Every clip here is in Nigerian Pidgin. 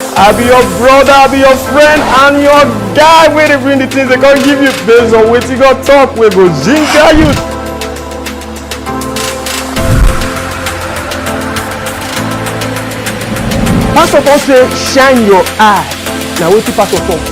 I be your brother, I be your friend, and your guy wey dey bring the things they come give you based on wetin God talk wey go ginger you. Pastor come say shine your eye na wetin pastor talk.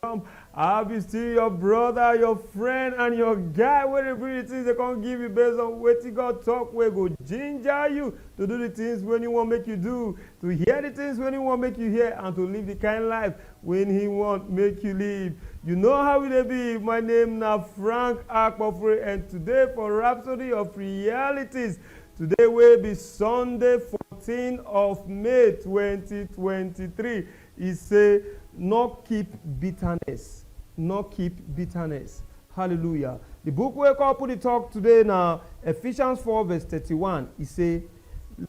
from i be still your brother your friend and your guy wey dey bring the things dey come give you based on wetin god talk wey go ginger you to do the things wey he wan make you do to hear the things wey he wan make you hear and to live the kind life wey he wan make you live you know how e dey be my name na frank akpofure and today for rhapsody of realities today wey be sunday 14 of may 2023 E say, Nor keep bitterness, nor keep bitterness. Hallelujah. Di book wey couple dey tok today na Ephesians four verse thirty one, e say,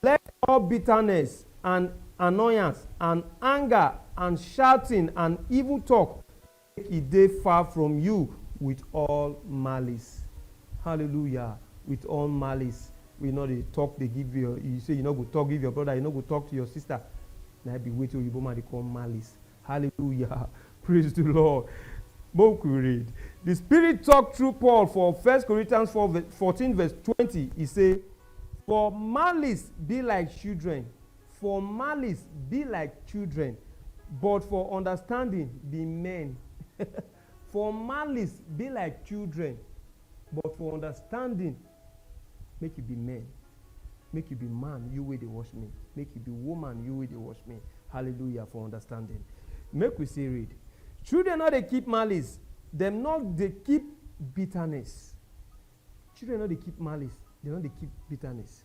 Let all bitterness and annoyance and anger and shouting and evil tok. Make e dey far from you with all malice. Hallelujah! With all malice wey you no dey talk dey give your, you say you no go talk give your brother, you no go talk to your sister, na im be wetin oyibo man dey call malice. Hallelujah! Praise the Lord! Make we read. The Spirit talk through Paul for First Corinthians four fourteen verse twenty, e say, For malice be like children. For malice be like children, but for understanding be men. For malice be like children, but for understanding make you be men. Make you be man, you wey dey watch me. Make you be woman, you wey dey watch me. Hallelujah for understanding. Make we still read. Children no dey keep malice, dem no dey keep bitterness. Children no dey keep malice, dem no dey keep bitterness.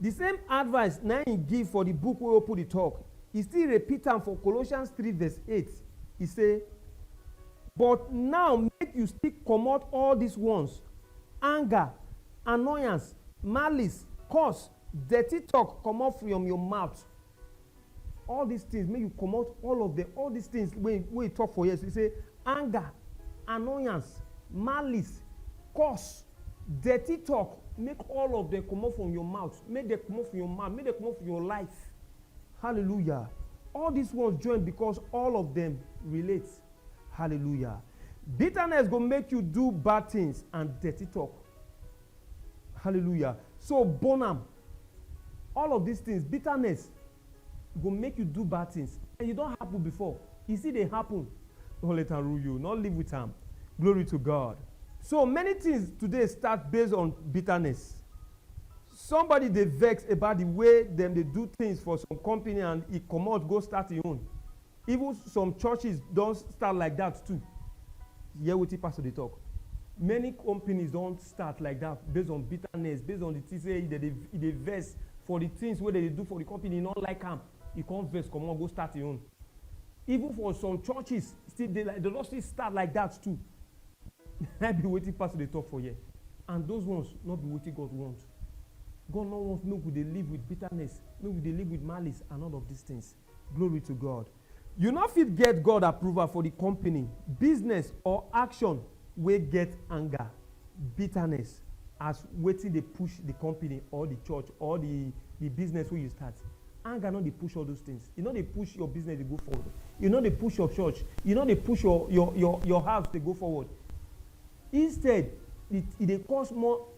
Di same advice na im e give for di book wey open di talk, e still repeat am for Colossians three verse eight, e say, But now make you still comot all dis ones, anger, annoyance, malice, curse, dirty talk comot from your mouth. All dis tins make you comot all of dem, all dis tins wey wey e tok for here, e sey anger, annoyance, malice, curse, dirty tok, make all of dem comot from your mouth, make dem comot from your mouth, make dem comot from your life. Hallelujah! All dis ones join because all of dem relate. Hallelujah! Bitterness go make you do bad tins and dirty tok. Hallelujah! So burn am. All of dis tins, bitterness, go make you do bad tins. E don happun bifor, e still dey happun. No let am rule you, no live wit am. Glory to God. So many tins today start base on bitterness. Sombodi dey vex about di way dem dey do tins for some company and e comot go start im own. Even some churches don start like that too. Hear wetin pastor dey talk. Many companies don start like that based on bitterness, based on the things wey dem dey, e dey vex for the things wey dem dey do for the company, e no like am, e come vex comot go start im own. Even for some churches still dey like, dem don still start like that too. Na im be wetin pastor dey talk for here. And those ones no be wetin God want. God no want make we dey live with bitterness, make we dey live with malice and all of these things. Glory to God. You no fit get God approval for di company, business or action wey get anger, bitterness as wetin dey push di company or di church or di di business wey you start. Anger no dey push all those things, e no dey push your business dey go forward, e no dey push your church, e no dey push your your your your house dey go forward. Instead, e e dey cause more.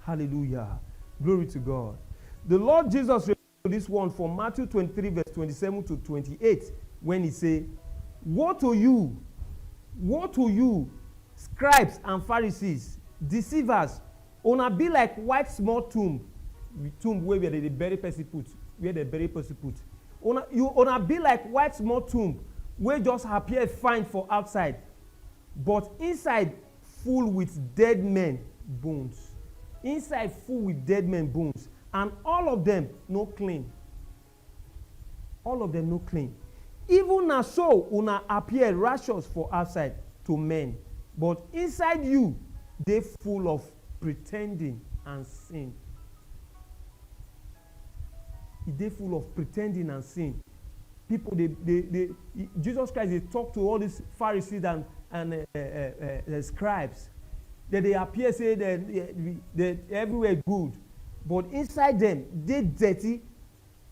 Hallelujah. Glory to God. The Lord Jesus referred to this one from Matthew 23, verse 27 to 28, when he said, Woe to you, woe to you, scribes and Pharisees, deceivers, una be like white small tomb, tomb where they dey bury person put, where they bury person put. Una, you una be like white small tomb wey just appear fine for outside, but inside full with dead men bones. Inside full with dead men bones and all of dem no clean. All of dem no clean. Even na so una appear righteous for outside to men, but inside you dey full of pretending and sin. E dey full of pretending and sin. Pipu dey dey dey Jesus Christ dey talk to all these Pharisees and and um um um scribes. Dem dey appear sey dem dem everywhere good but inside dem dey dirty.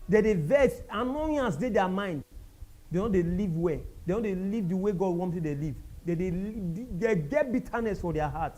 Dem dey vex, annoyance dey their mind. Dem no dey live well. Dem no dey live the way God want make dem live. Dem dey dem get bitterness for their heart.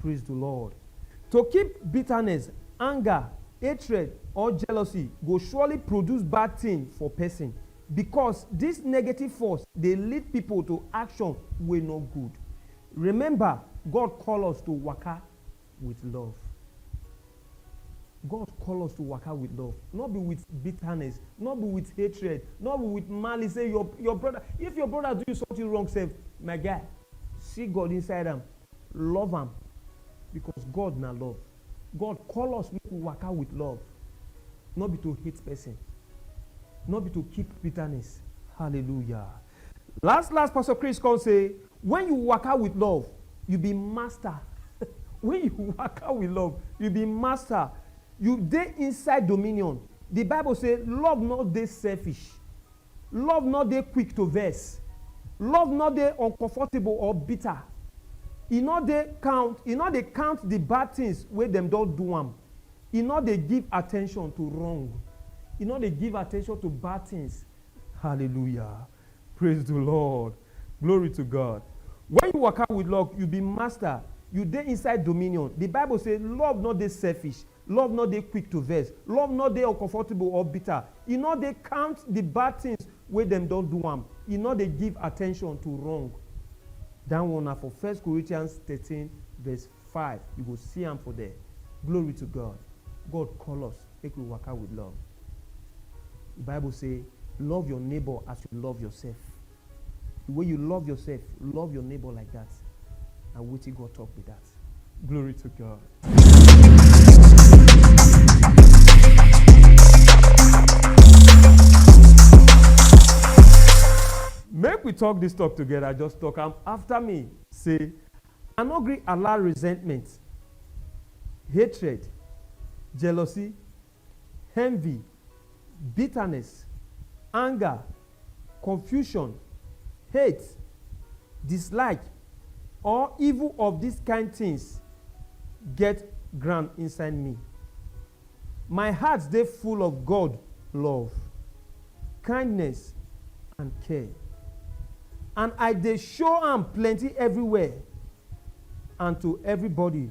Praise the Lord. To keep bitterness, anger, hatred or jealousy go surely produce bad thing for person because this negative force dey lead people to action wey no good. Remember God call us to waka with love. God call us to waka with love no be with bitterness, no be with hatred, no be with malice sey your your brother if your brother do you something wrong sef my guy see God inside am Love am because God na love. God call us make we waka with love, no be to hate person, no be to keep bitterness. Hallelujah! Last last, Pastor Chris come say, when you waka with love, you be master. when you waka with love, you be master. You dey inside dominion. The Bible say love no dey selfish. Love nor dey quick to vex. Love nor dey uncomfortable or bitter. E nor dey count e nor dey count di bad tins wey dem don do am. E nor dey give attention to wrong. E nor dey give attention to bad tins. Hallelujah! Praise di Lord! Glory to God! Wen you waka wit love, you be master. You dey inside dominion. Di Bible sey love nor dey selfish. Love nor dey quick to vex. Love nor dey uncomfortable or bitter. E nor dey count di bad tins wey dem don do am. E nor dey give attention to wrong. Dat one na for First Corinthians thirteen verse five, you go see am for there. Glory to God! God call us make we waka wit love. Di Bible sey, Love your neighbour as you love yoursef. The way you love yourself, love your neighbor like that. Na wetin God talk be that. Glory to God. Make we talk this talk together, just talk am after me. Say, I no gree allow resentment, hatred, jealousy, envy, bitterness, anger, confusion, hate, dislike or evil of dis kind tins get ground inside me. My heart dey full of God love, kindness and care and I dey show am plenty everywhere and to everybody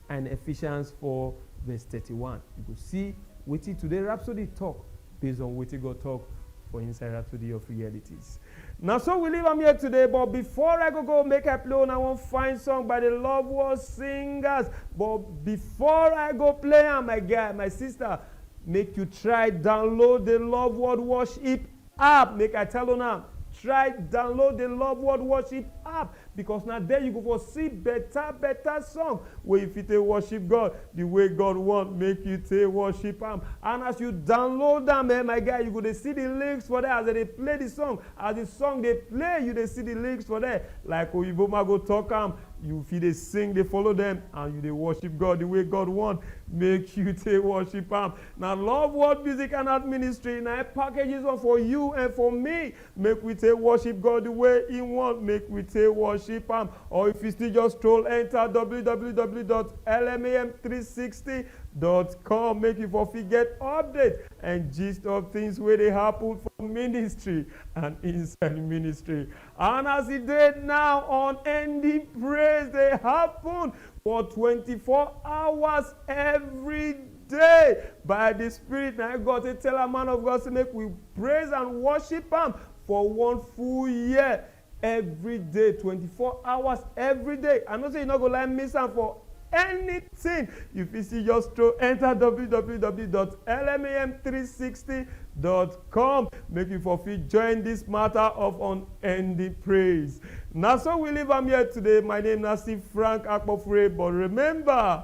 and Ephesians four verse thirty one. You go see wetin today Rhapsody talk based on wetin God talk for inside Rhapsody of Realities. Na so we leave am here today, but before I go go make I play una one fine song by the Love World Singers. But before I go play am, my guy, my sister, make you try download the Love World Worship App make I tell una try download the love world worship app because na there you go for see beta beta song wey you fit take worship God the way God want make you take worship am and as you download am eh my guy you go dey see the lyrics for there as dem dey play the song as the song dey play you dey see the lyrics for there like oyibo ma go talk am you fit dey sing dey follow them and you dey worship God the way God want make you take worship am. Na love world music and art ministry na im package this one for you and for me make we take worship God the way he want make we take worship am or if you still just stroll enter www.lmam360.com make you for fit get update and gist of things wey dey happen for ministry and inside ministry and as e dey now unending praise dey happen for twenty four hours every Day, by di Spirit, na im God take tell am, Man of God, sey make we praise and worship am for one full year, every day, twenty four hours, every day. I know sey you no go like miss am for anything. You fit still just stroll enter www dot lmam three sixty dot com make you for fit join this matter of unending praise. Na so we leave am here today. My name na still Frank Akpofure, but remember,